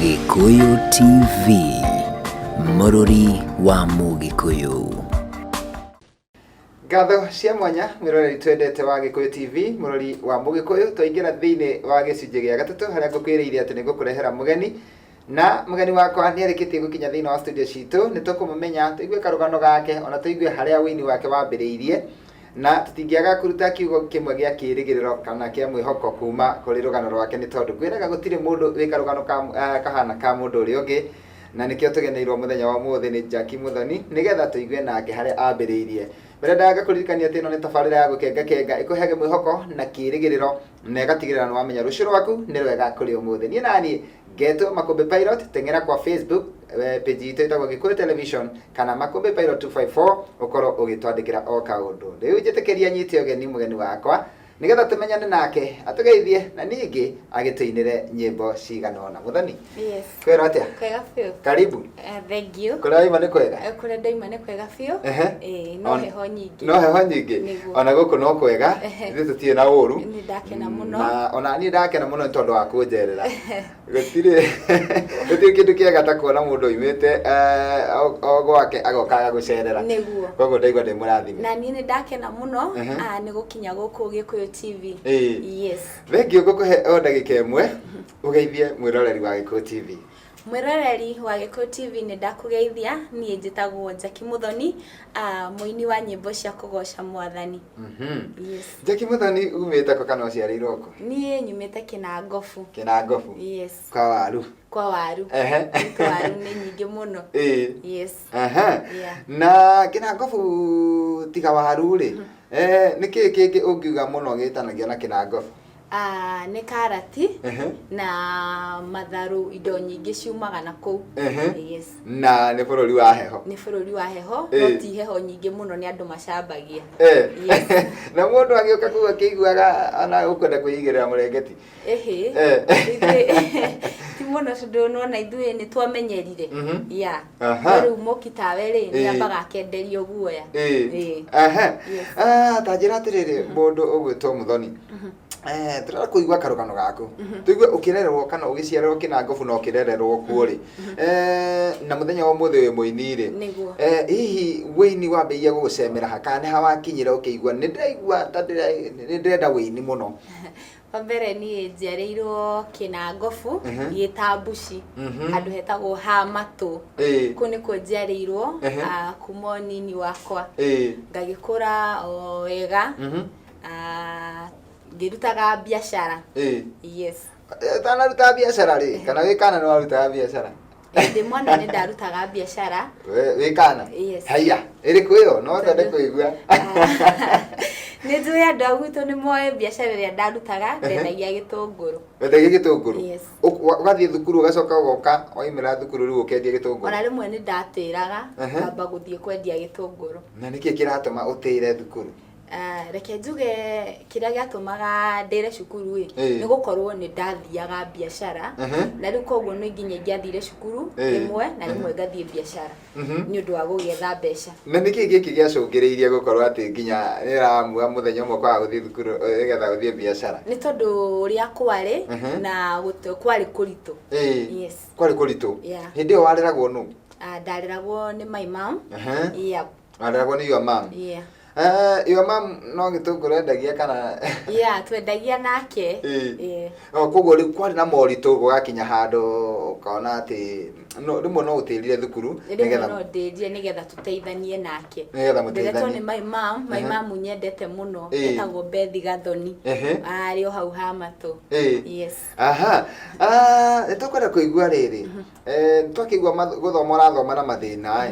Gĩkũyũ TV, mũrũri wa Mũgĩkũyũ. Ngatho cia mwanya mwĩroreri twendete wa Gĩkũyũ TV mũrori wa Mũgĩkũyũ twaingĩra thĩinĩ wa gĩcunjĩ gĩa gatatũ harĩa ngũkwĩrĩire atĩ nĩngũkũrehera mũgeni na mũgeni wakwa nĩarĩkĩtie gũkinya thĩinĩ wa studio citũ nĩtũkũmũmenya tũigue karũgano gake ona tũigue harĩa ũini wake wambĩrĩirie Na tũtingĩaga kũruta kiugo kĩmwe gĩa kĩĩrĩgĩrĩro kana kĩa mwĩhoko kuuma kũrĩ rũgano rwake nĩ tondũ ngwĩraga gũtirĩ mũndũ wĩ karũgano ka, ah, kahaana ka mũndũ ũrĩa ũngĩ. Na nĩkĩo tũgeneirwo mũthenya wa ũmũthĩ nĩ Jackie Muthoni nĩ getha tũigue nake harĩa aambĩrĩirie. Ndĩrendaga ngakũririkanie atĩ ĩno nĩ tabarĩra ya Gũkenga Kenga ĩkũheage mwĩhoko na kĩĩrĩgĩrĩro na ĩgatigĩrĩra nĩ wamenya rũciũ rwaku nĩ rwega kũrĩ ũmũthĩ. Niĩ na niĩ Ngeto Makombe Pilot, teng'era kwa Facebook eh, page itũ ĩtagwo Gĩkũyũ Television kana Makombe Pilot 254 ũkorwo ũgĩtwandĩkĩra o kaũndũ. Rĩu njĩtĩkĩria nyite ũgeni mũgeni wakwa nĩgetha tũmenyane nake atũgeithie na ningĩ agĩtũinĩre nyĩmbo cigana ũna. Mũthoni, Yes. kwĩrwo atĩa? Kwega biũ. Karibu. Eh, Thengiũ. Kũrĩa waima nĩ kwega? Eh, Kũrĩa ndaima nĩ kwega biũ. Ehe. Ĩĩ, no On- heho nyingĩ. No heho nyingĩ? Nĩguo. Ona gũkũ no kwega, Ehe. ithuĩ tũtirĩ na ũru. Nĩ ndakena mũno. Na ona niĩ ndakena mũno nĩ tondũ wa kũnjerera. Gũtirĩ gũtirĩ kĩndũ kĩega ta kuona mũndũ oimĩte eh, o- o gwake agoka agagũcerera. Nĩguo. Koguo ndaigua ndĩ mũrathime. Na niĩ nĩ ndakena mũno Ehe. ah, nĩ gũkinya gũkũ Gĩkũyũ TV. Ĩĩ. Yes. Thengiũ ngũkũhe o ndagĩka ĩmwe ũgeithie mwĩroreri wa Gĩkũyũ TV. Mwĩroreri wa Gĩkũyũ TV nĩ ndakũgeithia, niĩ njĩtagwo Njaki Mũthoni, ah, mũini wa nyĩmbo cia kũgoca mwathani. Yes. Njaki Mũthoni umĩte kũ kana ũciarĩirwo kũ? Niĩ nyumĩte Kĩnangobu. Kĩnangobu? Yes. Kwa waru? Kwa waru. Ehe. Gwitũ waru nĩ nyingĩ mũno. Ĩĩ. Yes. Aha. Yeah. Na Kĩnangobu tiga waru-rĩ, eh, nĩ kĩĩ kĩngĩ ũngiuga mũno gĩtanagio na Kĩnangobu? Ah, nĩ karati Ehe. na matharũ indo nyingĩ ciumaga na kũu Ehe. yes na nĩ bũrũri wa heho nĩ bũrũri wa heho Eh. no ti heho nyingĩ mũno nĩ andũ macambagia Eh. Yes. na mũndũ agĩũka kũu akĩiguaga ana ũkwenda kwĩigĩrĩra mũrengeti ĩhĩ Eh. Ithuĩ- ti mũno tondũ nona ithuĩ nĩ twamenyerire Mhm. ya Aha. rĩu mũki tawe rĩ Ĩĩ. nĩ ambaga akenderio guoya Ĩĩ. Ĩĩ. Aha. Yes. Ah, ta njĩra atĩrĩrĩ mũndũ ũgwĩtwo mũthoni Eh, tũrenda kũigua karũgano gaku tũigue ũkĩrererwo kana ũgĩciarerwo kĩna ngobu na ũkĩrererwo kuo rĩ Eh, na mũthenya wa ũmũthĩ wĩ mũini rĩ Nĩguo. Eh, hihi wĩini wambĩrĩirie gũgũcemera ha kana nĩ hawakinyire ũkĩigua nĩ ndĩraigua ta ndĩra- nĩ ndĩrenda wĩini mũno Wa mbere niĩ njiarĩirwo Kĩnangobu, Mhm. thiĩ ta Mbuci, Mhm. handũ hetagwo ha Matũ. Ĩĩ. Kũu nĩkuo njiarĩirwo Ehe. ah, kuma ũnini wakwa. Ĩĩ. Ngagĩkũra o wega, Mhm. ah, ngĩrutaga biacara. Ĩĩ. Yes. Ũtanaruta biacara rĩ, kana wĩ kana nĩ warutaga biacara? ndä mwana nä ndarutaga biacara We- wĩ kana Yes. haiya ĩrĩkũ ĩyo no twende kũigua nä njå ä andå a gwitå nä moä biacara ä rä a ndarutaga ndendagia gä tå ngå rå wendagia gĩtũngũrũ Yes. Ũk- wa- ũgathiĩ thukuru ũgacoka ũgoka waimĩra thukuru rĩu ũkendia ona gĩtũngũrũ rä mwe nä ndatä raga Ehe. ngamba gå thiä kwendia gä tå ngå rå na nĩkĩ kĩratũma ũtĩre thukuru Ah, reke njuge kĩrĩa gĩatũmaga ndĩre cukuru ĩ Ĩĩ. nĩ gũkorwo nĩ ndathiaga biacara Ehe. na rĩu koguo nĩ nginya ingĩathire cukuru Ĩĩ. rĩmwe na rĩmwe ngathiĩ biacara Mhm. nĩ ũndũ wa gũgĩetha mbeca na nä kä gä kä gä acångä gå korwo atä nginya nä ramua må thenya å mwe kwaga gå thiä thukuru nä getha gå thiä biacara nĩ tondũ ũrĩa kwarĩ Mhm. na gũt- kwarĩ kũritũ Ĩĩ. Yes. kwarä kå ritå Yeah. hä ndä ä yo wareragwo nå Ah, ndareragwo nä my mom yeah. Aragwo nĩ your mom. Yeah. Eh, your mom no gĩtũngũrũ endagia kana Yeah, twendagia nake. Ĩĩ. Yeah. No, koguo rĩu kwarĩ na moritũ gũgakinya handũ ũkona atĩ no- rĩmwe no ũtĩrire thukuru rĩmwe no ndĩrie nĩgetha tũteithanie nake Nĩgetha mũteithanie. Nderetwo nĩ my mom my Aha. mom nyendete mũno Ĩĩ. etagwo Bethi Gathoni Ehe. arĩ o hau ha matũ Ĩĩ. yes aha Ah, nĩ tũkwenda kũigua rĩrĩ Eh, nĩ twakĩigua math- gũthoma ũrathoma na mathĩna ĩ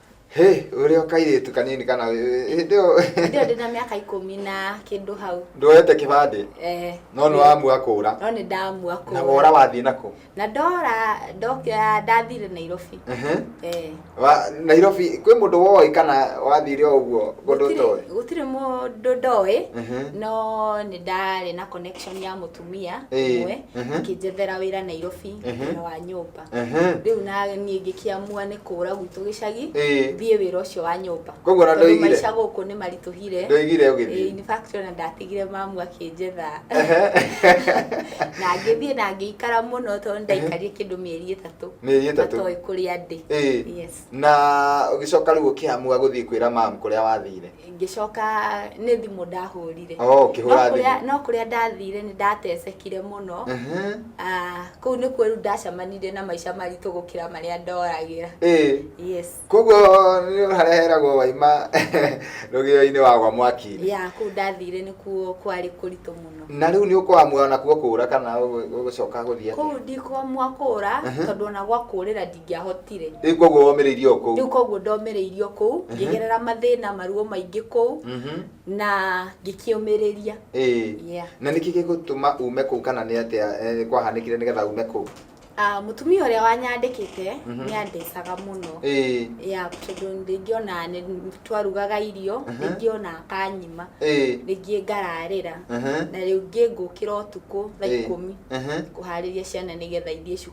Hĩ, ũrĩ o kairĩtu kanini kana ĩ- hĩndĩ ĩyo Hĩndĩ ĩyo ndĩ na mĩaka ikũmi na kĩndũ hau ndwoete kĩbandĩ Eh, no nĩ wamua kũra no nĩ ndamua kũ na wora wathiĩ nakũ na ndora ndokĩoya ndathire nairobi Ehe. Eh, Wa- nairobi kwĩ mũndũ woĩ kana wathire o ũguo mũndũ gũtirĩ- ũtoĩ gũtirĩ mũndũ ndoĩ Mhm. no nĩ ndarĩ na connection ya mũtumia Ĩĩ, ũmwe mhm. akĩnjethera wĩra nairobi Mhm. wĩra wa nyũmba Ehe. rĩu na niĩ ngĩkĩamua nĩ kũũra gwitũ gĩcagi Ĩĩ. thiĩ wĩra ũcio wa nyũmba Koguo na Tondũ ndũigire? maica gũkũ nĩ maritũhire Ndũigire ũgĩthiĩ? Ĩĩ, in fact ona ndatigire mamu akĩnjetha na ngĩthiĩ na ngĩikara mũno tondũ ndaikarire kĩndũ mĩeri ĩtatũ Mĩeri ĩtatũ. matoĩ kũrĩa ndĩ Ĩĩ. yes na ũgĩcoka rĩu ũkĩamua gũthiĩ kwĩra mamu kũrĩa wathire ngĩcoka nĩ thimũ ndahũrire Oh, ũkĩhũra No kũrĩa- thimũ. no kũrĩa ndathire nĩ ndatecekire mũno Ehe. Ah, kũu nĩ kuo rĩu ndacemanire na maica maritũ gũkĩra marĩa ndoragĩra Ĩĩ. yes koguo nĩ hareheragwo waima rũgĩo-inĩ wa gwa mwaki-inĩ ya kũu ndathire nĩ kuo kwarĩ kũritũ mũno na rĩu nĩ ũkwamua nakuo kũũra kana ũgũ- ũgũcoka gũthiĩ atĩa? kũu ndikwamua kũra Ehe. tondũ ona gwa kũrĩra ingĩahotire rĩu koguo womĩrĩirie o kũu rĩu koguo ndomereirio kũu ngĩgerera mathĩna maruo maingĩ kũu Mhm. na ngĩkĩũmĩrĩria Ĩĩ. Yeah. na nĩkĩ gĩgũtũma ume kũu kana nĩ atĩa eh, kwahanĩkire nĩgetha ume kũu Ah, mũtumia ũrĩa wanyandĩkĩte Mhm. nĩ andecaga mũno Ĩĩ. ya tondũ rĩngĩ ona nĩ twarugaga irio Mhm. rĩngĩ ona akanyima Ĩĩ. rĩngĩ ngararĩra Mhm. na rĩngĩ ngũkĩra ũtukũ thaa Ĩĩ. ikũmi Mhm. kũharĩria ciana nĩgetha ithiĩ cukuru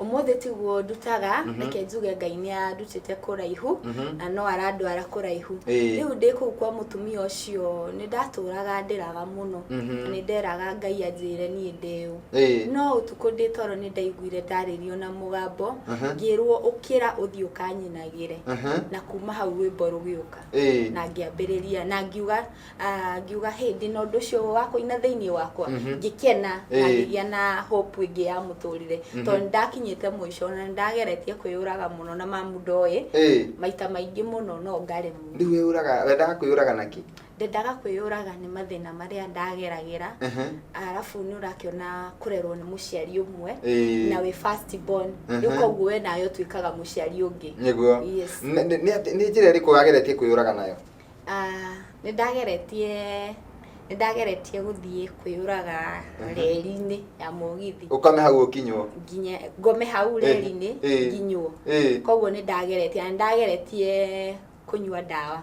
ũmũthĩ tiguo ndutaga reke njuge ngai nĩ andutĩte kũraihu na no arandwara kũraihu Ĩĩ. rĩu ndĩ kũu kwa mũtumia ũcio nĩ ndatũraga ndĩraga mũno na nĩ nderaga ngai anjĩre niĩ ndĩũ Ĩĩ. no ũtukũ ndĩ toro nĩ ndaiguire ndarĩrio na mũgambo ngĩrwo ũkĩra ũthiĩ ũkanyinagĩre Mhm. na kuma hau rwĩmbo rũgĩũka Ĩĩ. na ngĩambĩrĩria na ngiuga Ah, ngiuga hĩ ndĩ na ũndũ ũcio wa kũina thĩinĩ wakwa ngĩkena na Ĩĩ. ngĩgĩa na hope ĩngĩ ya mũtũrĩre tondũ nĩ ndakinyĩte mũico na nĩ ndageretie kwĩyũraga mũno na mamu ndoĩ Ĩĩ. maita maingĩ mũno no ngaremwo rĩu wĩyũraga wendaga kwĩyũraga na kĩ ndendaga kwĩyũraga nĩ mathĩna marĩa ndageragĩra Ehe. arabu nĩ ũrakĩona kũrerwo nĩ mũciari ũmwe Ĩĩ. na wĩ first born Mhm. rĩu koguo we nawe ũtuĩkaga mũciari ũngĩ nĩguo Yes. Nĩ- nĩ- nĩ atĩ- nĩ njĩra ĩrĩkũ wageretie kwĩyũraga nayo Nĩndageretie, nĩndageretie gũthiĩ kwĩyũraga reri-inĩ ya mũgithi. Ũkame hau ũkinywo. Nginye, ngome hau reri-inĩ nginywo. Koguo nĩndageretie, na nĩndageretie kũnyua ndawa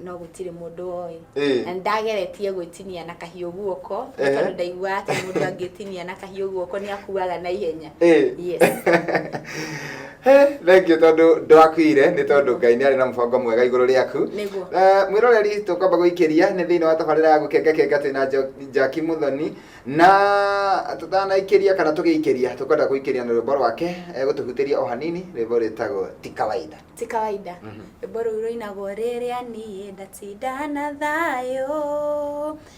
no gũtirĩ mũndũ woĩ. Na nĩndageretie gwĩtinia na kahiũ guoko, nĩ tondũ ndaiguaga ta mũndũ angĩtinia na kahiũ guoko nĩakuaga na ihenya. Yes. He, thank you tondu ndwakuire ni tondu ngai ni ari na mubango mwega iguru riaku Nĩguo. Eh, mwiroreri tukwamba guikiria ni thiini wa tabarira ya gukenga kenga twina Jo- jaki muthoni na tutanaikiria kana tugiikiria tukwenda guikiria na rwimbo rwake eh, gutuhutiria o hanini rwimbo rwitagwo ti kawaida ti kawaida Mhm. rwĩmbo rũu rũinagwo rĩrĩa niĩ ndatinda na thayũ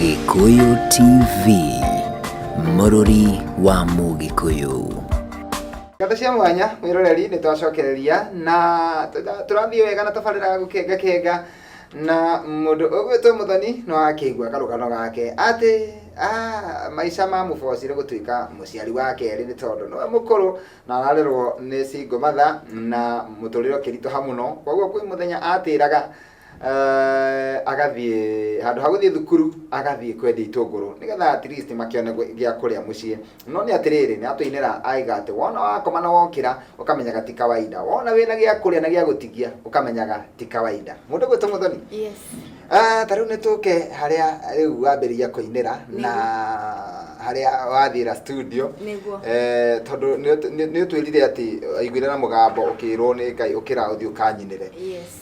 Gĩkũyũ TV, mũrũri wa Mũgĩkũyũ. Ngata cia mwanya mwĩroreri nĩ twacokereria na tũra- tũrathiĩ wega na tabarĩra ya gũkenga kenga na mũndũ ũgwĩtwo mũthoni no akĩigua karũgano gake atĩ ah, maica mamũbocire gũtuĩka mũciari wa kerĩ nĩ tondũ nĩwe mũkũrũ na ararerwo nĩ singo matha na mũtũrĩre ũkĩritũha mũno koguo kwĩ mũthenya atĩraga Eh, agathiĩ handũ ha gũthiĩ thukuru agathiĩ kwendia itũngũrũ nĩgetha at least makĩone gwĩ- gĩa kũrĩa mũciĩ no nĩ atĩrĩrĩ nĩ atũinĩra aiga atĩ wona wakoma na wokĩra ũkamenyaga ti kawaida wona wĩna gĩa kũrĩa na gĩa gũtigia ũkamenyaga ti kawaida mũndũ gwĩtũ mũthoni yes Ah, ta rĩu nĩ tũke harĩa rĩu wambĩrĩria kũinĩra na harĩa wathira studio Nĩguo. eh, tondũ nĩ ũtwĩrire atĩ aiguire na mũgambo ũkĩrwo nĩ ngai ũkĩra ũthiĩ ũkanyinĩre yes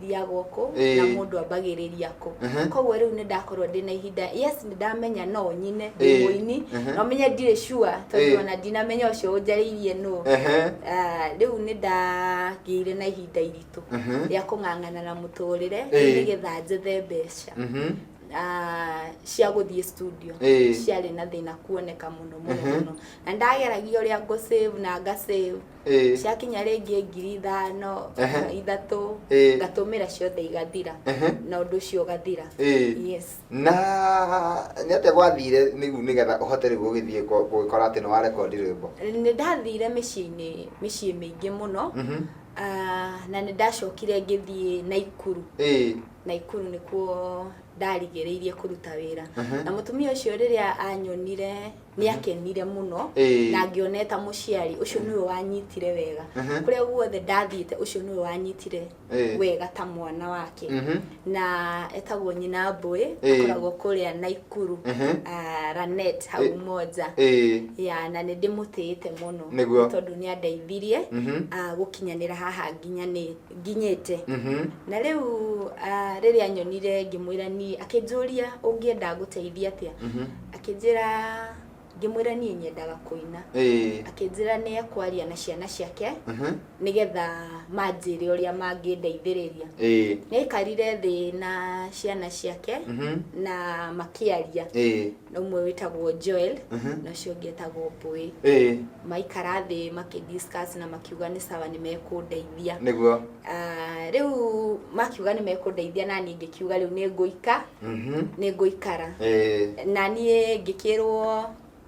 thiaga ũkũ Ĩĩ. na mũndũ ambagĩrĩria kũ Mhm. koguo rĩu nĩ ndakorwo ndĩ na ihinda yes nĩ ndamenya no nyine ndĩ Ĩĩ. mũini Mhm. no menye ndirĩ sure Ĩĩ. tondũ ona ndinamenya ũcio ũnjarĩirie nũ Ehe. Ah, rĩu nĩ ndagĩire na ihinda iritũ Mhm. rĩa kũng'ang'ana na mũtũrĩre Ĩĩ. nĩgetha njethe mbeca Mhm. ah, cia gũthiĩ studio Ĩĩ. ciarĩ na thĩna kuoneka mũno mũno Mhm. mũno na ndageragia ũrĩa ngũ save na nga save Ĩĩ. ciakinya rĩngĩ ngiri ithano Ehe. kana ithatũ Ĩĩ. ngatũmĩra ciothe igathira Ehe. na ũndũ ũcio ũgathira Ĩĩ. yes na nĩ atĩa gwathire nĩgu nĩgetha ũhote rĩu gũgĩthiĩ kũ- gũgĩkora atĩ nĩ wa rekondi rwĩmbo nĩ ndathire mĩciĩ-inĩ mĩciĩ mĩingĩ mũno Mhm. Ah, na nĩ ndacokire ngĩthiĩ naikuru Ĩĩ. naikuru nĩkuo ndarigĩrĩirie kũruta wĩra Mhm. na mũtumia ũcio rĩrĩa anyonire nĩ akenire mũno Ĩĩ. na ngĩona eta mũciari ũcio nĩwe wanyitire wega Mhm. kũrĩa guothe ndathiĩte ũcio nĩwe wanyitire Ĩĩ. wega ta mwana wake Mhm. na etagwo nyina mbũĩ Ĩĩ. akoragwo kũrĩa naikuru Mhm. Ah, ranet hau Ĩĩ. moja Ĩĩ. ya na nĩ ndĩmũtĩĩte mũno Nĩguo. Nĩ tondũ nĩ andeithirie Mhm. ah, gũkinyanĩra haha nginya nĩ- nginyĩte Mhm. na rĩu ah, rĩrĩa nyonire ngĩmwĩra niĩ akĩnjũria ũngĩenda ngũteithie atĩa Mhm. Akĩnjĩra ngĩmwĩra niĩ nyendaga kũina. Ĩĩ. Akĩnjĩra nĩ ekwaria na ciana ciake Mhm. nĩgetha manjĩre ũrĩa mangĩndeithĩrĩria. Ĩĩ. Nĩ aikarire thĩ na ciana ciake Mhm. na makĩaria Ĩĩ. na ũmwe wĩtagwo Joel Mhm. na ũcio ũngĩ etagwo Mbũĩ. Ĩĩ. Maikara thĩ makĩ discuss na makiuga nĩ sawa nĩ mekũndeithia. Nĩguo. Ah, Rĩu makiuga nĩ mekũndeithia na niĩ ngĩkiuga rĩu nĩ ngũika Mhm. nĩ ngũikara Eh, na niĩ ngĩkĩrwo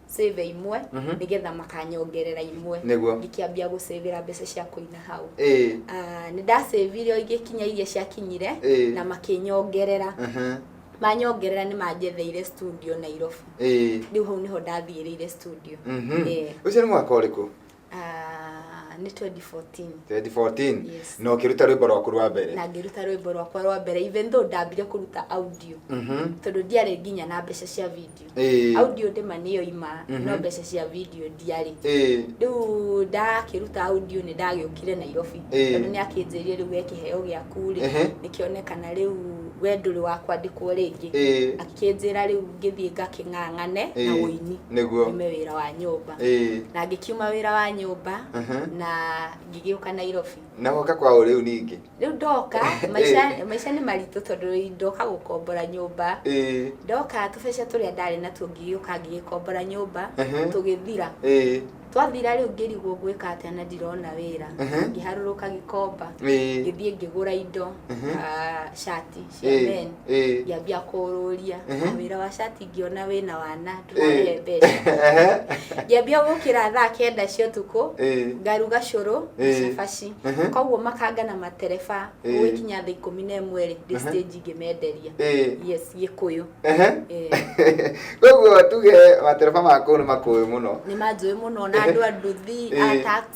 save imwe Mhm. nĩgetha makanyongerera imwe Nĩguo. ngĩkĩambia gũcĩvĩra mbeca cia kũina hau eh, Ah, nĩ ndacĩvire o igĩkinya iria ciakinyire Eh. na makĩnyongerera aha, manyongerera nĩ manjetheire studio nairobi eh, rĩu hau nĩho ndathiĩrĩire studio Mhm. Eh. ũcio nĩ mwaka ũrĩkũ Ah, nĩ 2014 2014 Yes. na ũkĩruta rwĩmbo rwaku rwa mbere na ngĩruta rwĩmbo rwakwa rwa mbere even though ndambire kũruta audio Mhm. tondũ ndiarĩ nginya na mbeca cia video Ĩĩ. audio ndĩma nĩyo ima Mhm. no mbeca cia video ndiarĩ Ĩĩ. rĩu ndakĩruta audio nĩ ndagĩũkire nairobi Ĩĩ. tondũ nĩ akĩnjĩrire rĩu we kĩheo gĩaku rĩ Ehe. nĩkĩone kana rĩu we ndũrĩ wa kwandĩkwo rĩngĩ Ĩĩ. akĩnjĩra rĩu ngĩthiĩ ngakĩng'ang'ane na Ĩĩ. ũini Nĩguo. nĩme wĩra wa nyũmba nyũmba Ĩĩ. na ngĩkiuma wĩra wa nyũmba Mhm. na ngĩgĩũka nairobi na woka kwao rĩu ningĩ rĩu ndoka maica Ĩĩ. maica nĩ maritũ tondũ ndoka gũkombora nyũmba Ĩĩ. ndoka tũbeca tũrĩa ndarĩ natuo ngĩgĩũka ngĩgĩkombora nyũmba Mhm. tũgĩthira Ĩĩ. twathira rĩu ngĩrigwo ngwĩka atĩa na ndirona wĩra Mhm. ngĩharũrũka gĩkomba Ĩĩ. ngĩthiĩ ngĩgũra indo Mhm. ah, shati cia Eh, men eh. ngĩambia kũũrũria Ehe. na wĩra wa cati ngĩona wĩna wana Eh. ndũrarĩhe mbeca Ehe. ngĩambia gũkĩra thaa kenda cia ũtukũ Eh. ngaruga cũrũ na Eh. cabaci Ehe. koguo makanga na matereba Eh. gũgĩkinya thaa ikũmi na ĩmwe rĩ ndĩ Ehe. stage ngĩmenderia Eh. yes gĩkũyũ Ehe. Eh. koguo tuge matereba makũu nĩ makũĩ mũno nĩ manjũĩ mũno na andũ a nduthi a Eh. taxi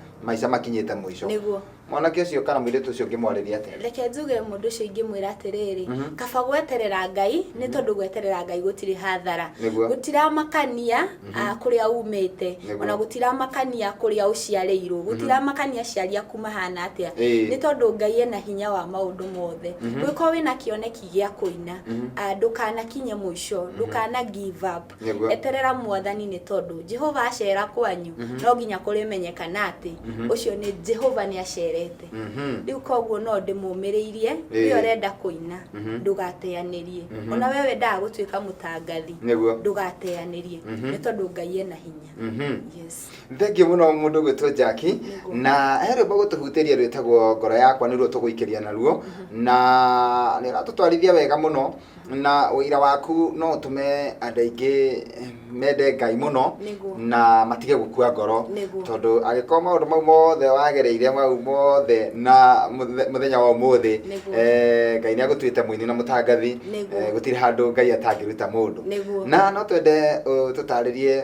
maica makinyĩte mũico nĩguo mwanake ũcio kana mũirĩtu ũcio ngĩmwarĩria atĩa reke njuge mũndũ ũcio ingĩmwĩra atĩrĩrĩ Mhm. kaba gweterera ngai nĩ tondũ gweterera ngai gũtirĩ hathara Nĩguo. gũtiramakania ah, kũrĩa umĩte Nĩguo. ona gũtiramakania kũrĩa ũciarĩirwo gũtiramakania aciari aku mahana atĩa Ĩĩ. nĩ tondũ ngai ena hinya wa maũndũ mothe gwĩkorwo wĩna kĩoneki gĩa kũina Mhm. ah, ndũkanakinye mũico ndũkana give up Nĩguo. eterera mwathani nĩ tondũ jehova acera kwanyu no nginya kũrĩmenyekana atĩ ũcio nĩ jehova nĩ acerete Mhm. rĩu koguo no ndĩmũmĩrĩirie Ĩĩ. nĩ ũrenda kũina Mhm. ndũgateanĩrie Mhm. ona we wendaga gũtuĩka mũtangathi Nĩguo. ndũgateanĩrie Mhm. nĩ tondũ ngai ena hinya Mhm. yes thengiå må no må ndå gwä two njaki Nĩguo. na he rwä mbo gå tå hutä ria rwä tagwo ngoro yakwa nä ruo tå gå ikĩria naruo na nä ratå twarithia wega må no na ũira waku no ũtũme andũ aingĩ mende ngai mũno Nĩguo. na matige gũkua ngoro Nĩguo. tondũ angĩkorwo maũndũ mau mothe wagereire mau mothe na mũthe- mũthenya wa ũmũthĩ Nĩguo. eh, ngai nĩ agũtuĩte mũini na mũtangathi Nĩguo. Eh, gũtirĩ handũ ngai atangĩruta mũndũ Nĩguo. na no twende uh, tũtarĩrie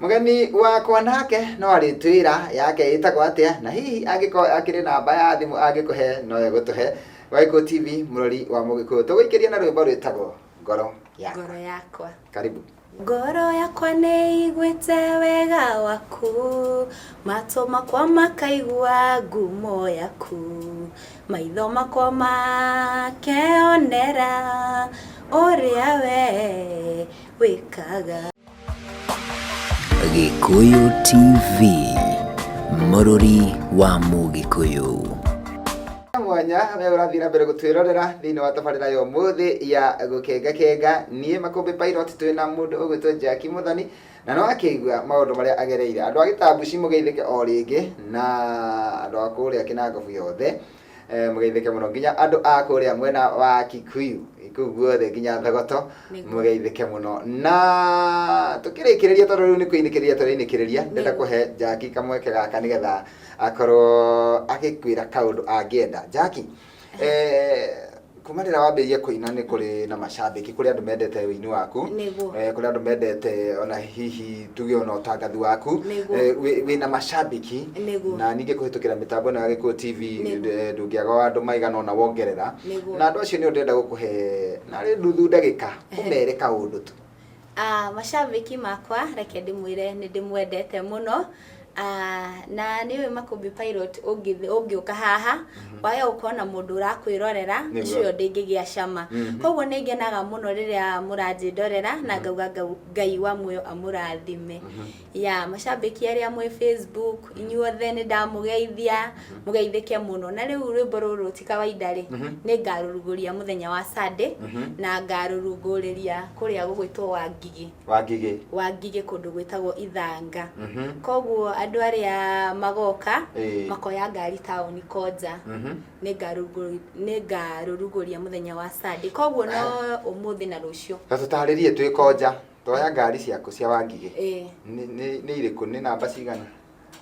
Mũgeni wakwa nake no arĩtwĩra yake ĩtagwo atĩa na hihi angĩkorwo akĩrĩ namba ya thimũ angĩkũhe no egũtũhe. Wagĩkũyũ TV mũrori wa Mũgĩkũyũ tũgũikĩria na rwĩmbo rwĩtagwo ngoro yakwa. Ngoro yakwa. Karibu. Ngoro yakwa nĩ ĩiguĩte wega waku, matũ makwa makaigua ngumo yaku, maitho makwa makeonera ũrĩa wee wĩkaga. Gĩkũyũ TV, mũrũri wa Mũgĩkũyũ. mwanya we ũrathiĩ na mbere gũtwĩrorera thĩinĩ wa tabarĩra ya ũmũthĩ ya gũkengakenga niĩ makũmbĩ pilot twĩ na mũndũ ũgwĩtwo jaki mũthoni na nĩ wakĩigua maũndũ marĩa agereire andũ a gĩtambuci mũgeithĩke o rĩngĩ na andũ a kũrĩa kĩnangobu yothe Eh, mũgeithĩke mũno nginya andũ a kũrĩa mwena wa kikuyu kũu guothe nginya thogoto Nĩguo. mũgeithĩke mũno na tũkĩrĩkĩrĩria tondũ rĩu nĩ kũinĩkĩrĩria tũrainĩkĩrĩria ndenda Nĩguo. kũhe njaki kamweke gaka nĩgetha akorwo agĩkwĩra kaũndũ angĩenda njaki eh, kuma rĩrĩa wambĩrĩirie kũina nĩ kũrĩ na macambĩki kũrĩ andũ mendete ũini waku Nĩguo. eh, kũrĩ andũ mendete ona hihi tuge ona ũtangathi waku Nĩguo. eh, wĩ- wĩna macambĩki Nĩguo. na ningĩ kũhĩtũkĩra mĩtambo ĩno ya gĩkuo tv Nĩguo. eh, ndũngĩaga wa andũ maigana ona wongerera Nĩguo. na andũ acio nĩ ũndenda gũkũhe narĩ nduthu ndagĩka ũmere kaũndũ tu Ah, mashabiki makwa reke ndĩmwĩre nĩ ndĩmwendete mũno Ah, na nĩũĩ makũmbĩ pilot ũngĩthi- ũngĩũka haha wage gũkorwo na mũndũ ũrakwĩrorera Nĩguo. icio ĩyo ndĩngĩgĩa cama Mhm. koguo nĩ ngenaga mũno rĩrĩa mũranjĩndorera na ngauga ngau- ngai wa muoyo amũrathime ya macambĩki arĩa mwĩ facebook inyuothe nĩ ndamũgeithia mũgeithĩke mũno na rĩu rwĩmbo rũrũ ti kawaida rĩ nĩ ngarũrugũria mũthenya wa sunday na ngarũrungũrĩria kũrĩa gũgwĩtwo wangigĩ wangigĩ wangigĩ kũndũ gwĩtagwo ithanga koguo andũ arĩa magoka Ĩĩ. makoya ngari taũni konja nĩ ngarũrugũ- nĩ ngarũrugũria mũthenya wa sunday koguo no ũmũthĩ na rũciũ na tũtarĩrie twĩ konja Toya ngari ciaku cia wangigĩ Ĩĩ. nĩ- nĩ- nĩ irĩkũ nĩ namba cigana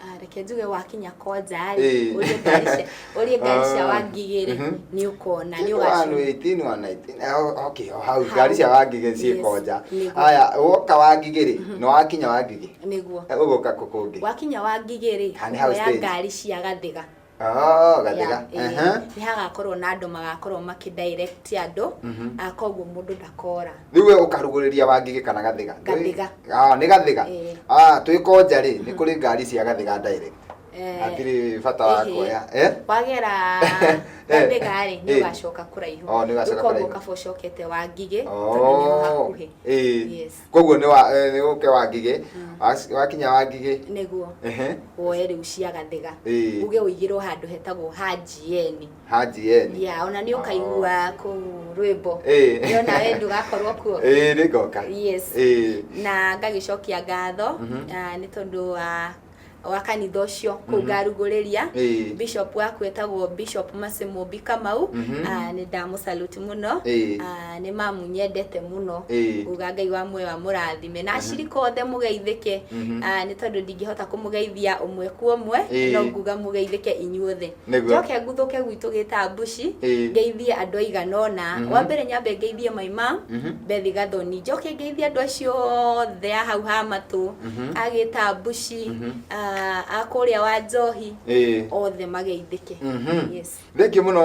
Ah, reke njuge wakinya kwanja rĩ Ĩĩ. ũrie ngari cia- ũrie ngari cia Ah. wangigĩ rĩ Mhm. nĩ ũkona nĩ ũgacua okay o hau ngari cia wangigĩ Yes. ciĩko nja Nĩguo. haya woka wangigĩ rĩ nĩ wakinya wangigĩ nĩguo ũgũka kũ kũngĩ wakinya wangigĩ rĩ Ha, nĩ hau ũkoya stage. ngari cia gathiga Oh, gathiga. Yeah, Ehe. eh, nĩ hagakorwo na andũ magakorwo makĩdirect andũ Mhm. ah, koguo mũndũ ndakora rĩu we ũkarugũrĩria wangigĩ kana gathiga Gathiga. Ah, nĩ gathiga Eh. Ah, twĩ konja rĩ nĩ kũrĩ ngari cia gathiga direct Eh, hatirĩ bata wa ehe. kuoya Eh? wagera Eh. gathigarĩ Eh. nĩ ũgacoka kũraihu Oh, nĩ ũgacoka Rĩu koguo kũraihu. ũkaba ũcokete wangigĩ tondũ nĩ Oh. ũhakuhĩ Eh. Yes. koguo nĩ wa eh, nĩ ũke wa ngigĩ Wac- wakinya wa ngigĩ nĩguo ehe woe rĩu cia gathiga Ĩĩ. uge ũigĩrwo handũ hetagwo hanjieni hanji yeni ya ona nĩ ũkaigua kũu rwĩmbo Ĩĩ. Nĩ ona we ndũgakorwo kuo ĩĩ nĩ ngoka yes Ĩĩ. na ngagĩcokia ngatho Mhm. ah, nĩ tondũ wa wa kanitha ũcio kũu Mhm. ngarugũrĩria Ĩĩ. bishop waku etagwo bishop Mercy Mũmbi Kamau Mhm. Ah, nĩ ndamũsaluti mũno Ĩĩ. Ah, nĩ mamu nyendete mũno Ĩĩ. uga ngai wa muoyo amũrathime na acirika othe mũgeithĩke Mhm. Ah, nĩ tondũ ndingĩhota kũmũgeithia ũmwe kwa ũmwe Ĩĩ. no nguga mũgeithĩke inyuothe Nĩguo. njoke nguthũke gwitũ gĩtambuci Ĩĩ. ngeithie andũ aigana ũna Mhm. wa mbere nyambe ngeithie my mom Mhm. bethi gathoni njoke ngeithie andũ acio othe a hau ha matũ Mhm. a gĩtambuci Mhm. a- a kũrĩa wa njohi Ĩĩ. othe mageithĩke Mhm. yes thengio mũno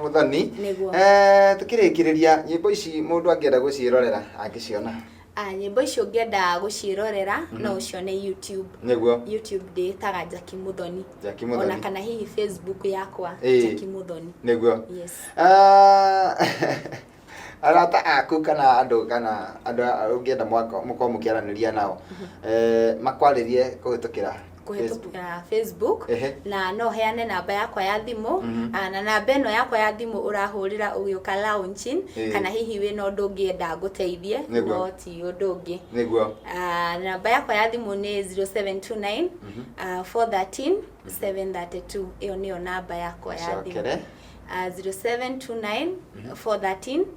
mũthoni Nĩguo. Eh, tũkĩrĩkĩrĩria nyĩmbo ici mũndũ angĩenda gũciĩrorera angĩciona Ah, nyĩmbo icio ũngĩenda gũciĩrorera no ũcione YouTube. nĩguo YouTube ndĩĩtaga Jackie Muthoni. Jackie Ona Muthoni. kana hihi Facebook yakwa Ĩĩ. Jackie Muthoni. nĩguo Yes. Ah, arata aku kana andũ kana andũ a- ũngĩenda mwako- mũkorwo mũkĩaranĩria nao eh, makwarĩrie kũhĩtũkĩra kũhetũkĩra facebook Ehe. na no heane namba yakwa ya thimũ Mhm. ah, na namba ĩno yakwa ya thimũ ũrahũrĩra ũgĩũka launching Ĩĩ. kana hihi wĩna ũndũ ũngĩenda ngũteithie Nĩguo. no ti ũndũ ũngĩ nĩguo Ah, namba yakwa ya thimũ nĩ 0729 Mhm. ah, 413 732 ĩyo nĩyo namba yakwa ya thimũ cokere Ah, 0729 413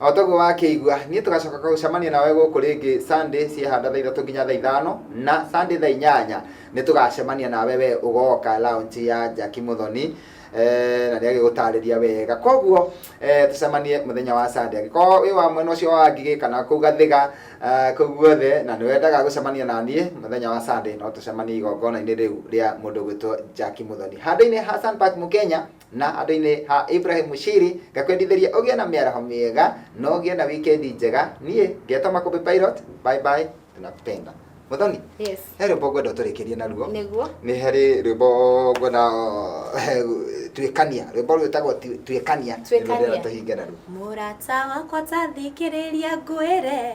o toguo wakĩigua niĩ tũgacoka gũcemania nawe gũkũ rĩngĩ sunday ciehanda thaa ithatũ nginya thaa ithano na sunday thaa inyanya nĩ tũgacemania nawe we ũgoka lounge ya jaki mũthoni eh, na nĩ agĩgũtarĩria wega koguo eh, tũcemanie mũthenya wa sunday angĩkorwo wĩ wa mwena ũcio wa ngigĩ kana kũu gathiga eh, kũu guothe na nĩ wendaga gũcemania na niĩ mũthenya wa sunday no tũcemanie igongona-inĩ rĩu rĩa mũndũ gwĩtwo jaki mũthoni handũ-inĩ ha Sun Park mũkenya Na handũ-inĩ ha Ibrahim Shiri, ngakwendithĩria ũgĩe na mĩaraho mĩega na ũgĩe na wikendi njega. Niĩ ngetwo Makũmbĩ Pilot, bye bye, tunakupenda. Mũthoni, Yes. he rwĩmbo ngwenda ũtũrĩkĩrie naruo. Nĩguo. Nĩ harĩ rwĩmbo ngwenda eh, tuĩkania, rwĩmbo rwĩtagwo Tu- tuĩkania. Nĩ rũrĩa Tuĩkania. tũhinge naruo. Mũrata wakwa ta thikĩrĩria ngwĩre